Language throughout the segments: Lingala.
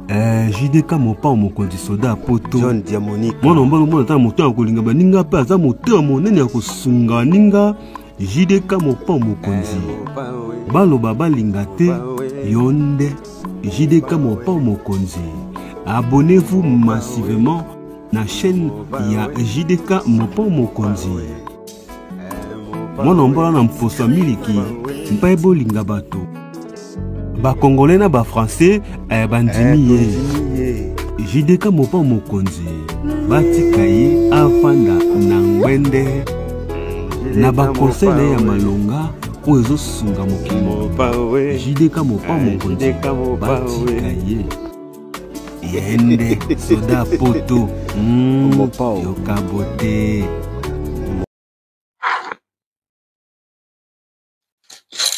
Eh, jdk mopao mokonzi soda ya poto john diamonique mwana mobali omona ata moto ya kolinga baninga mpe aza motema monene ya kosunga baninga jdk mopao mokonzi eh, baloba balinga te yo nde jdk mopao mokonzi abonnez-vous massivement na chaîne ya jdk mopao mokonzi mwana mbola na mposo ya miliki mpe bolinga bato bakongole na bafrançais eh, bandimi ye jideka mopa mokonzi batika ye afanda na ngwende na bakonsei na ye ya malonga oyo ezosunga mokili jideka mopa mokonzi batika ye yende soda poto mm, yoka bote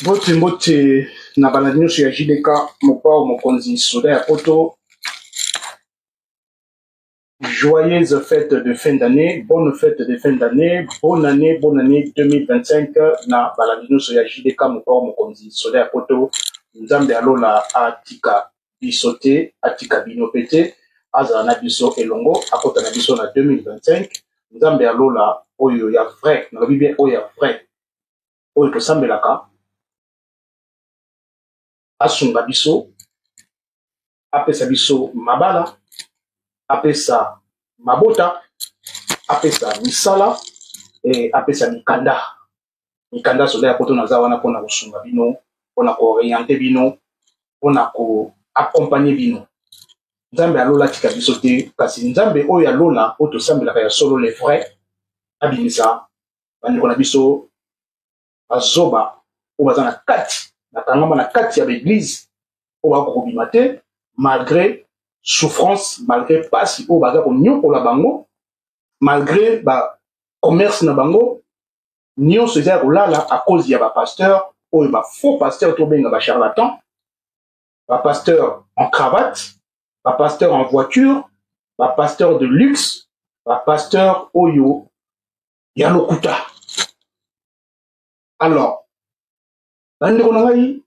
mbote mbote na bana nyonso ya jdk mopao mokonzi soda ya poto Joyeuse fête de fin d'année, bonne fête de fin d'année, bonne année, bonne année 2025 na balandi nyonso ya JDK mokao mokonzi soda ya poto nzambe ya lola atika biso te atika bino mpe te azala na biso elongo akota na biso na 2025 nzambe ya lola oyo ya vrai nalobi bien oyo ya vrai oyo tosambelaka asunga biso apesa biso mabala apesa mabota apesa misala e, apesa mikanda mikanda soda ya poto naza wana mpona kosunga bino mpona kooriente bino mpona koakompagne bino nzambe ya lola atika biso te kasi nzambe oyo ya lola oyo tosambelaka ya solo le vrai abimisa bandeko na biso bazoba oyo baza na kati bakangama na kati ya baeglize oyo bakoki kobima te malgré souffrance malgré mpasi oyo baza konyokola bango malgré bacommerce na bango nyonso eza ya kolala à cause ya bapasteur oyo bafaux pasteur tobenga bacharlatan bapasteur en cravate bapasteur en voiture bapasteur de luxe bapasteur oyo ya lokuta alors bandeko na ngai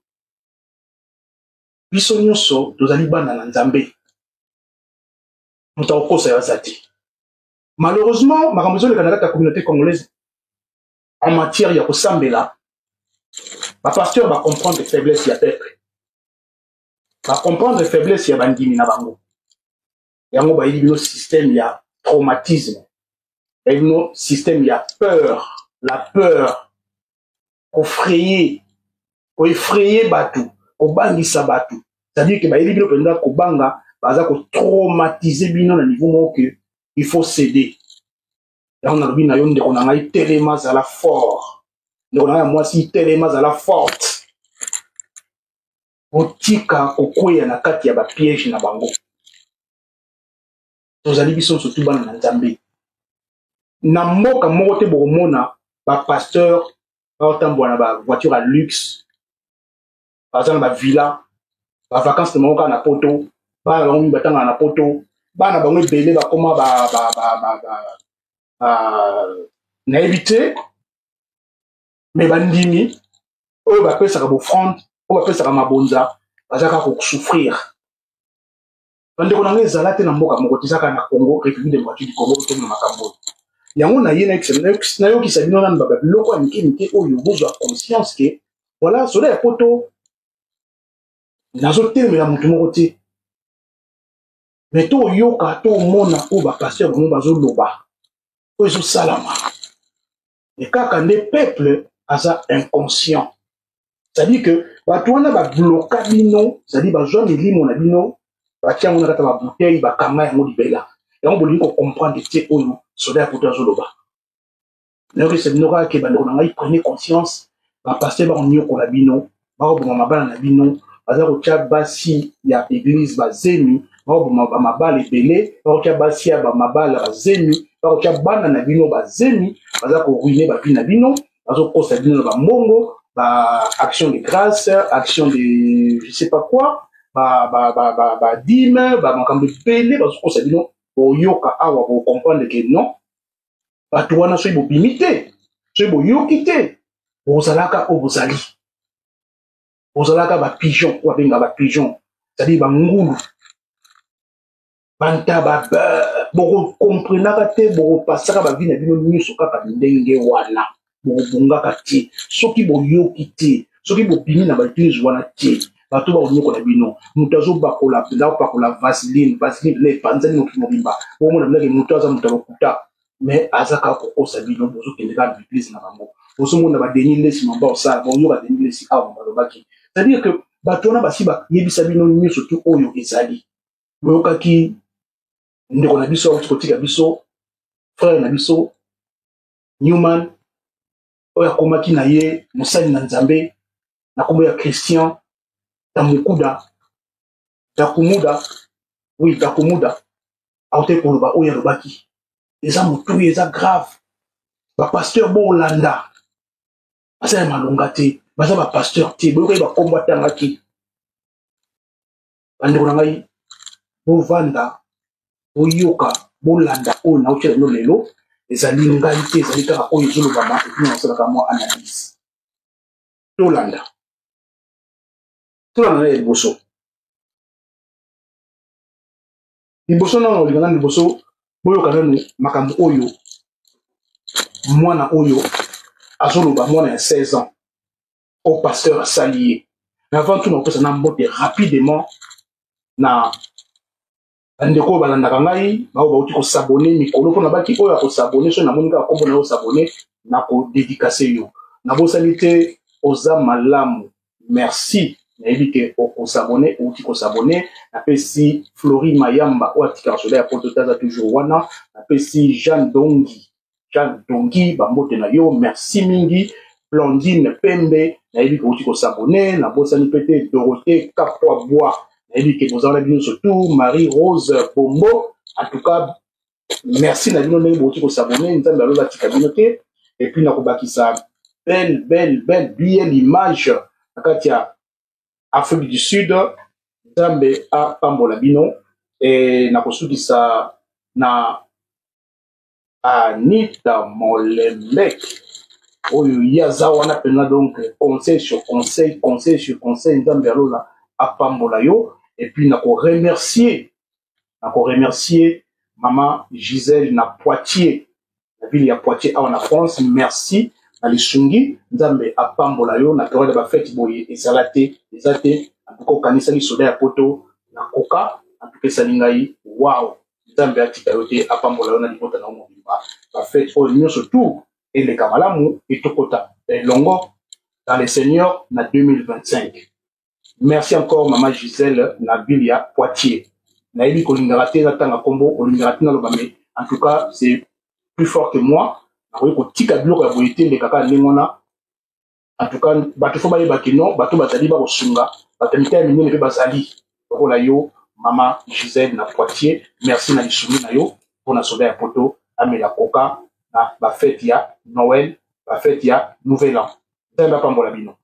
biso nyonso tozali bana na nzambe moto akokosa yo aza te malheureusement makambo ezoleka na kati ya communauté congolaise en matière ya kosambela bapasteur bacomprendre faiblesse ya peuple bacomprendre faiblesse ya bandimi na bango yango bayebi bino système ya traumatisme bayebi bino système ya peur la peur kofraye koefraye bato kobangisa bato c'est-à-dire ke bayebi bino mpenza kobanga baza kotraumatise bino na niveau moko ke il faut céder yango nalobi na yo ndeko na ngai telema zala fort ndeko na ngai ya mwasi telema zala forte botika kokweya na kati ya bapiège na bango tozali biso nyonso tu bana na nzambe na mboka moko te bokomona bapasteur baotambola na bavoiture ya luxe baza na bavilla bavacance na bango kaka na poto bana bango mingi batangana na poto bana bango ebele bakoma nayebi te mais bandimi oyo bapesaka bofrande oyo bapesaka mabonza baza kaka kosouffrir bandeko na ngai ezala te na mboka moko te ezaka na congo république démocratique du congo otomona makambo oyo yango na ye nayokisa bino nanu baba biloko ya mike mike oyo bozwa conscience ke voilà soda ya poto nazotelemela motu moko te me toyoka tomona oyo bapasteur bango bazoloba oyo ezosalama mais kaka nde peuple aza inconscient c'est-à-dire que bato wana babloka bino c'est-à-dire bazwa milimo na bino batia yango na kata babouteille bakanga yango libela yango bolingi kocomprendre te oyo soda ya poto azoloba nayoki se bino kaka ke bandeko na ngai prenez conscience bapaster bakoniokola bino bakoboma mabala na bino baza kotya basi ya eglise bazemi bakoboma bamabala ebele bakotya basi ya bamabala bazemi bakotya bana na bino bazemi baza koruine bavi na bino bazokosa bino na bambongo ba action de grâce action de je sais pas quoi badime bamakambo ebele bazokosa bino boyoka awa bokomprendre ke non bato wana soki bobimi te soki boyoki te bozalaka oyo bozali bozalaka bapigeon oyo babenga bapigeon ezali bangulu bantaba bokokomprenaka te bokopasaka bavi na bino nyonso kaka ndenge wana bokobongaka te soki boyoki te soki bopimi na baeglise wana te bato bakonyokola bino moto azobakola mpenza opakola vaseline vaseline mpenza epanzani mokili mobimba omona mpenza ke moto aza moto ya lokuta me aza kaka kokosa bino bozokende kaka na baeglise na bango ozomona badeni lesi mamba osala baoyoka deni lesi awa balobaki c'est-à-dire que bato wana basi bayebisa bino nyonso tu oyo ezali boyokaki ndeko na biso auti kotika biso frere na biso newman oyo akomaki na ye mosali na nzambe na nkombo ya christian tamukuda takumuda oui takumuda aute koloba oyo alobaki eza motuya eza grave bapasteur bolanda baza ya malonga te baza bapasteur te boyokai bakombo atangaki bandeko na ngai bovanda boyoka bolanda oyo naotyela bino lelo ezali ngai te ezali kaka oyo ezolobama epi nasalaka mwa analyse tolanda tolanda na ya liboso liboso nano olinga nano liboso boyoka nano makambo oyo mwana oyo azoloba mwana ya 16 ans oyo pasteur asali ye mais avant tout nakopesa na mbote rapidement na bandeko oyo balandaka ngai baoyo bauti kosabone mikolo mpo nabaki oyo akosabone soki namoni kaka nkombo na yo osabone nakodedikase yo nabosani te oza malamu merci nayebi ke okosabone outi kosabone napesi flori mayamba oyo atikaka soda ya poto te aza toujours wana napesi jeanne dongi Jeanne Dongi, bambote na yo, merci mingi. Blandine Pembe, nayebi ke outi kosabone, nabosani mpe te Dorothée Kapwa Bwa, nayebi ke boza wana bino nyonso tu, Marie Rose Bombo, en tout cas, merci na bino ndenge bouti kosabone, Nzambe alola tika bino te, et puis nakobakisa belle, belle, belle, belle image na kati ya Afrique du Sud, Nzambe apambola bino, et nakosukisa na anita molembe oyo ye aza wana mpenza donc conseil sur conseil conseil sur conseil nzambe ya lola apambola yo epuis na koremercie na koremercie mama gisele na poitier na ville ya poitier awa na france merci na lisungi nzambe apambola yo na periode ya bafete boye ezala te eza te antuka okanisaki soda ya poto na koka antuka esali ngai wao nzambe atika yo te apambola yo na libota na yo mobimba bafete oyo nyonso tu eleka malamu etokota elongo dans le seigneur na 2025 merci encore mama gisele na ville ya poitier nayebi kolingaka te natanga nkombo olingaka te naloba me en tout cas c'est plus fort que moi nakoki kotika biloko ya boye te eleka kaka ndenge wana en tout cas bato fo bayeba ke non bato bazali bakosunga bato ya mitema minene mpe bazali lokola yo mama gisele na poitier merci na lisungi na yo mpo na soda ya poto amela koka na bafete ya noel bafete ya nouvel an nzambe apambola bino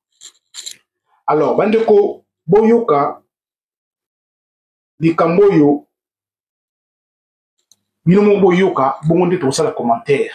alors bandeko boyoka likambo oyo bino moko boyoka bongo nde tokosala commentaire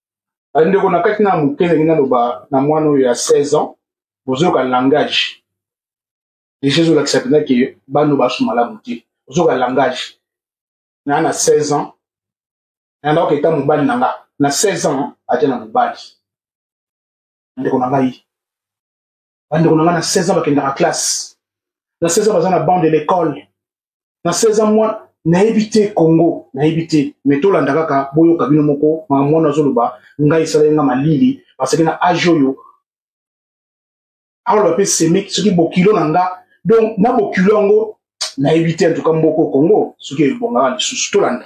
bandeko na kati na moke ndenge naloba na mwana oyo ya 16 ans bozoyoka langage deja ezolakisa mpenza ke bano basu malamu te ozoyoka langage na na 16 ans nandako eta mobali na nga na 16 ans aja na mobali ndeko na ngai bandeko na ngai na 16 ans bakendaka classe na 16 ans baza na bande de l'école na 16 ans mwana nayebi te congo nayebi te me tolanda kaka boyoka bino moko makambo wana azoloba ngai esalaki ngai malili parceke na age oyo aoloba mpe semik soki bokilo na nga donc na bokilo yango nayebi te antuka mboko congo soki ebongaka lisusu tolanda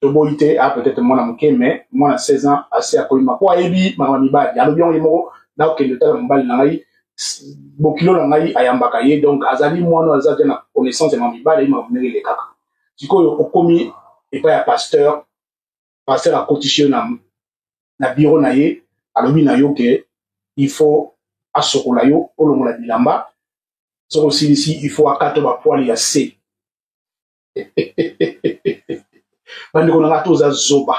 toboyi te a ah, peut-être mwana moke mais mwana 16 ans asi akoyima mpo ayebi makambo ya mibali alobi yango ye moko nakokende tala mobali na ngai bokilo na ngai ayambaka ye donc azali mwana aza te na connaissance ya mamibale ye makambo ndenge elekaka sikoyo okomi epai ya pasteur pasteur akotisi yo na, na biro na ye alobi na yo ke il faut asokola yo olongola bilamba soki osilisi il faut akato bapwale ya se bandeko na ngai to oza zoba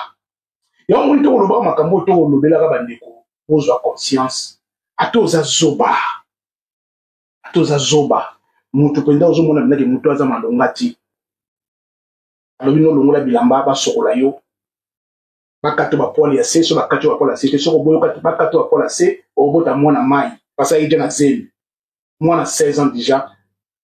yango moni tokolobaka makambo oyo tokolobelaka bandeko bozwa conscience ata oza zoba ata oza zoba moto mpenza ozomona mpenza ke moto aza malonga ti alobi no olongola bilamba basokola yo bakato bapwale ya se so bakati bapwale ya se te soko boyokati bakato bapwale ya se obota mwana mai pasaki te na zemi mwana 16 ans déjà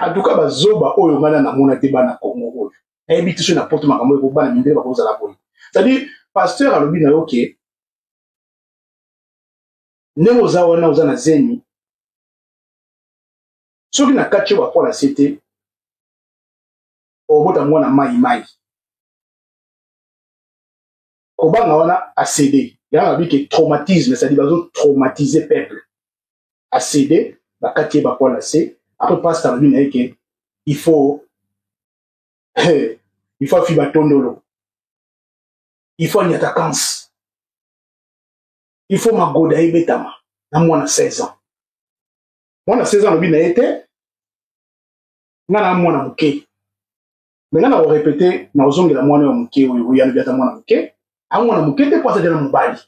antuka bazoba oyo ngai na namona te bana kongo oyo nayebi te soki na poto makambo oyo bana mindele bakozala boye cetadire pasteur alobi na yo ke ndenge oza wana oza na zemi soki na kati yo bapola se te obota mwana mai mai kobanga wana acede yango abi ke traumatisme cestadi bazo traumatise peuple acede bakati ye bapoa na se apres pasta alobi na ye ke il faut il faut afiba tondolo il faut anyata kanse il faut magoda ebetama na mwana 16 ans mwana 16 ans alobi na ye te nga na mwana moke me nga na korepete na kozongela mwana ya moke oyo oyo alobi ata mwana moke a mwana moke te mpo azali na mobali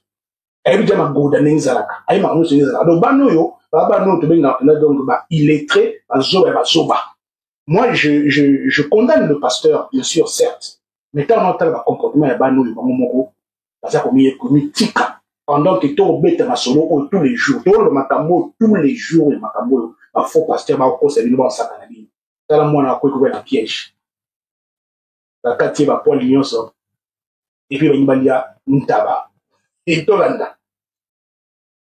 ayebi ja magoda ndenge ezalaka ayebi makambo nyonso ndenge ezalaka donc bana oyo baa bana oyo tobengaka mpenza donc ba illettré bazoba ya bazoba moi je, je, je condamne le pasteur bien sûr certes mais ntango na otala bacomportement ya bana oyo bango moko baza komiye komitika pendant que tobeta masolo oyo tous les jours toloba makambo oyo tous les jours ya makambo oyo bafaux pasteur bakokosa bino basaka na bino tala mwana akoki koya na piège bakati ye bapoile nyonso epuis balingi balia ntaba etolanda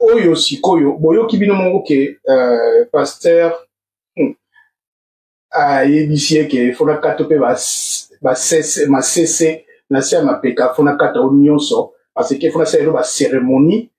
oyo sikoyo boyoki bino moko ke uh, pasteur hmm, ayebisi ye ke fona kato mpe masese na se ya mapeka fona kata o nyonso parce que fona sala elo baceremonie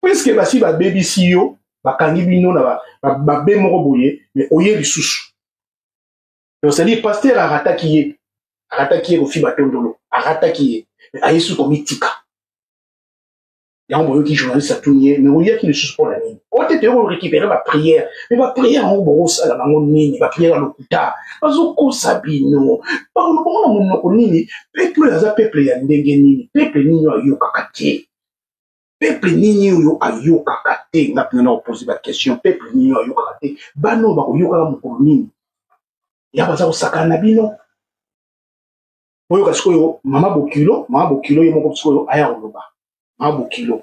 puiske basi babebisi yo bakangi bino na babe moko boye me oye lisusu donc cetadire paster arataki ye arataki ye kofi batondolo arataki ye me ayesu komitika yango boyoki journaliste atuni ye me oyaki lisusu mpo na nini ote toye korekipere bapriere me bapriere yango bokosala nango nini bapriere ya lokuta bazokosa bino bakolobongo na monoko nini peple oyo aza peple ya ndenge nini peple nini oyo ayokaka te peuple nini oyo ayokaka te nga mpena na kopose baquestion peuple nini oyo ayokaka te bana oyo bakoyokaka mokolo nini ya baza kosakana na bino oyoka sikoyo mama bokilo mama bokilo ye moko sikoyo aya koloba mama bokilo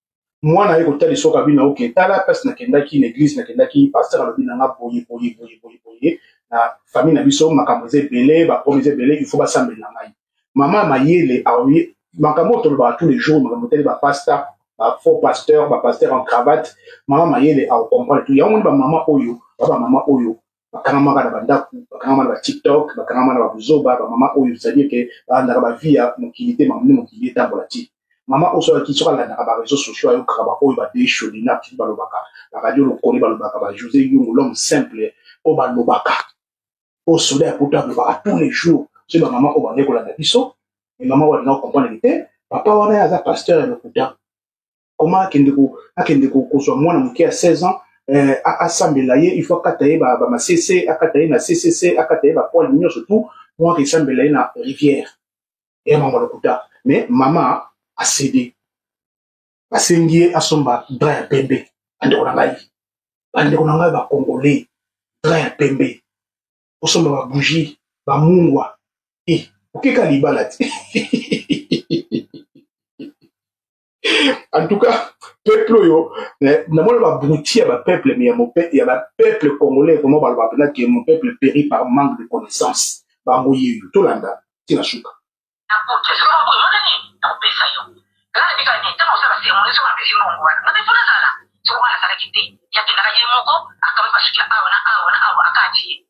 mwana aye kotalisa oyo kabina oke tala place nakendaki na eglise nakendaki pasteur alobi na nga boye boye boye boye boye na famille na biso makambo eza ebele bapromi eza ebele il faut basambela ngai mama ya mayele aoye makambo oyo tolobaka tous les jours makambo etali bapasta bafaux pasteur bapasteur en cravate mama mayele aocomprendre tout yango moni bamama oyo ba bamama oyo bakangamaka na bandako bakangama na batiktok bakangama na babuzoba bamama oyo cestadire ke balandaka bavie ya mokili te mamoni mokili etambola ti mama oyo soki soki alandaka bareseau sociaux ayokaka baoyo badei sholina soki balobaka baradio lokole balobaka bajose yongo l'homme simple oyo balobaka oyo soda ya poto alobaka tous les jours soki bamama oyo bandeki kolanda biso emama oyo alinga kokomprendre te papa wana ye aza pasteur ya lokuta comment akende ko akende ko kozwa mwana moke ya 16 ans eh, asambela ye il faut akata ye ba, ba masese akata ye na ccc akata ye ba poil nyonso tout mwa akesambela ye na rivière ya mama lokuta mais mama asede basengi ye asomba dra ya pembe bandeko na ngai bandeko na ngai bacongolais dra ya pembe osomba babougie bamungwa e eh, okeka libala te en tout cas peuple oyo eh, namoni babruti ya bapeuple me ya bapeuple congolais vraiment baloba mpena ke mon peuple péri par manque de connaissance bango yeyo tolanda tina suka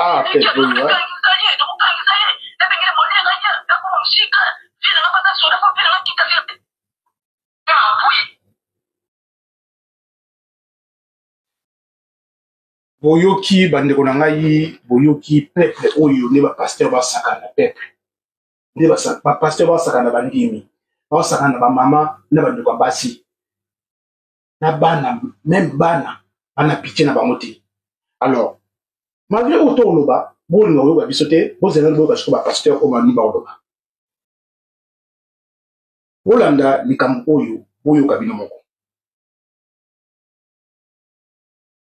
Ah, peut boyoki bandeko na ngai boyoki peuple oyo nde bapasteur basakana peuple nde bapasteur baosaka na bandimi baosaka na bamama na bandeko ya basi na bana meme bana bana pitie na bango te alors malgré oyo to oloba bolinga koyoka biso te bozela boyoka siko bapasteur oyo bamini baoloba bolanda likambo oyo boyoka bino moko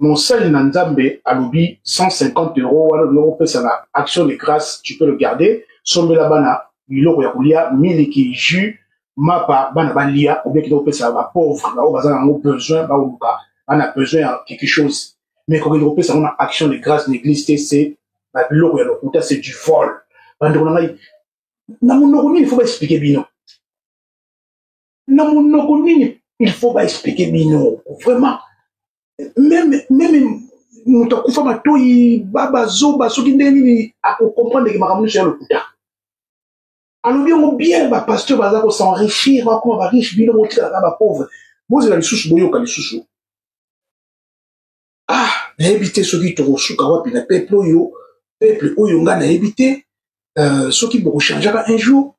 mosali na nzambe alobi 150 euro wana olingi kopesa na action de grâce tu peux le garder sombela bana biloko ya kolia miliki jus mapa bana balia obekende kopesa ba pauvre baoyo baza na yango besoin baoluka bana besoin ya quelque chose mais kokende kopesa yango na action de grâce na église te se na biloko ya lokuta c'est du vol bandeko na ngai na monoko nini fo baexplike bino na monoko nini il faut ba expliquer bino vraiment meme meme moto akufa matoi baba zoba soki ndenge nini akokomprendre ke makambo nyonso ya lokuta alobi yango bien bapasteur baza kosenrichir bakoma bariche bino botikalaka bapauvre bozela lisusu boyoka lisusu ah nayebi te soki tokosuka wapi na peuple oyo peuple oyo ngai nayebi te euh, soki bokochangeaka un jour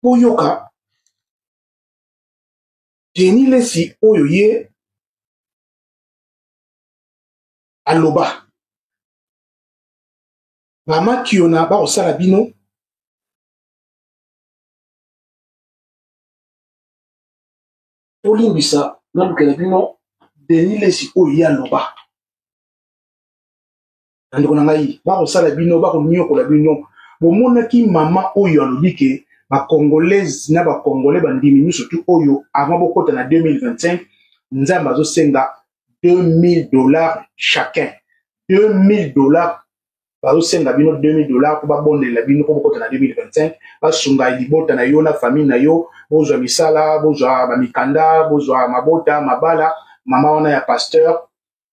boyoka deni lesi oyo ye aloba bamakiona bakosala bino tolimbisa nalukela bino deni lesi oyo ye aloba bandeko na ngai bakosala bino bakonyokola bino bomonaki mama oyo alobi ke bacongolaise na bacongolais bandimi miso tu oyo avant bokota na 2025 nzambe azosenga 2000 dollars chacun 2000 dollars bazosenga bino 2000 dollars mpo babondelela bino mpo bokota na 2025 basunga libota na yo na famille na yo bozwa misala bozwa bamikanda bozwa mabota mabala mama wana ya pasteur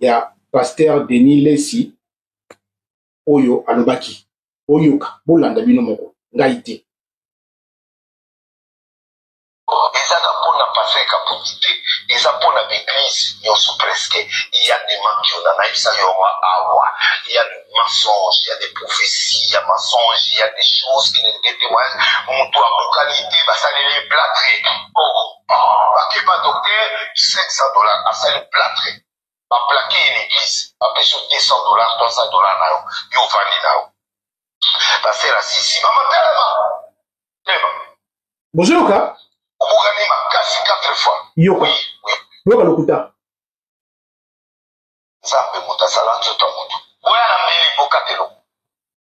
ya pasteur denis lesi oyo alobaki boyoka bolanda bino moko ngai te ezaka mpo na pasteur kabundi te eza mpo na baeglise nyonso preske ya de mankiona nayebisa yonga awa ya de mensonge ya de prophetie ya mensonge ya de choses qui ne de témoignage moto abukani te basaleli platre oh. Oh, bakeba docteur 500 dollars asali platre baplake ye na eglise bapesi yo 200 dollars 300 dollars na yo yo ovandi na yo basela sisi mama telema telema bozoyoka obukani makasi 4 fois yoka yoka lokuta nzambe moto asala nzoto ya moto boya na mbeli bokatelo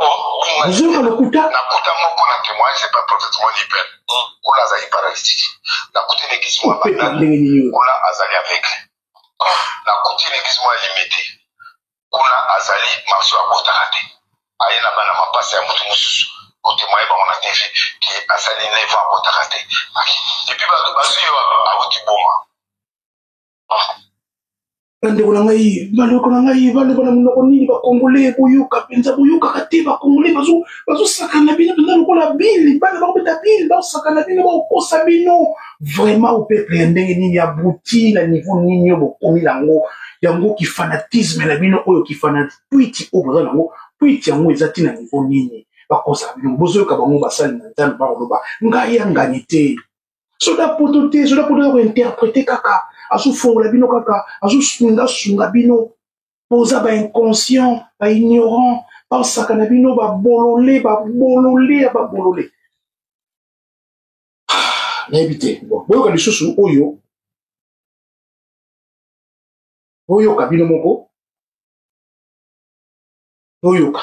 Bonjour Lokuta. Nakuta moko na témoin c'est pas prophètement libère. Kula azali paralytique. Nakuta une église moi banane. Kula azali aveugle. Nakuta une église moi limité. Kula azali marso ya botaka te. Aye na bana mapasa ya mutu mususu. Kotemoye bango na TV ke asali 9 ans abotaka te. Epuis bato bazwi yo awuti boma. bandeko na ngai bandeko na ngai baloba na monoko nini bakongole boyoka mpenza boyokaka te bakongole bazosakana bino mpenza lokola bile bana bakobeta bile baosakana bino baokosa bino vraiment opeple ya ndenge nini ya buti na niveau nini oyo bokomi nango yango kifanatisme na bino oyo kifana twiti oyo boza nango twiti yango eza ntina niveau nini bakosaka bino bozoyoka bango basali na nzambe bakoloba ngai angani te soda poto te soda poto ya kointerprete kaka azofongola bino kaka azosungasunga bino boza bainconscient baignorant baosaka na bino babolole babolole ya babolole ah, nayebi te bon boyoka lisusu oyo boyoka bino moko boyoka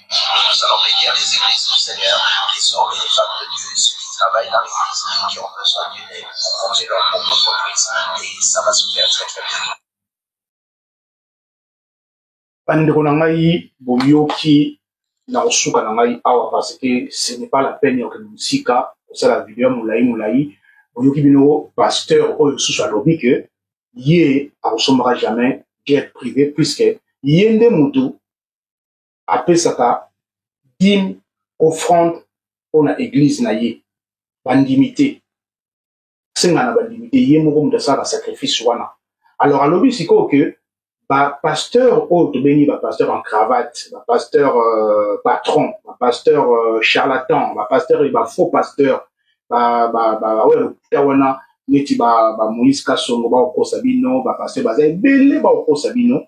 Nous allons bénir les églises du Seigneur, les hommes et les femmes de Dieu, ceux qui travaillent dans l'église, qui ont besoin d'une aide pour monter leur propre entreprise. Et ça va se faire très très bien. bandeko na ngai boyoki na kosuka na ngai awa parce que ce n'est pas la peine ya kokende mosika kosala video ya molai molai boyoki bino pasteur oyo susu alobi ke ye akosombaka jamais jet privé puisque ye nde motu apesaka dime offrande mpo na eglize na ye bandimi te asenga na bandimi te ye moko moto asalaka sacrifice wana alors alobi sikoyo ke bapasteur oyo tobengi bapasteur en cravate bapasteur euh, patron bapasteur euh, charlatan bapasteur e bafaux pasteur baoyo lokuta wana neti bamoïse kasongo bakokosa bino bapasteur baza ebele bakokosa bino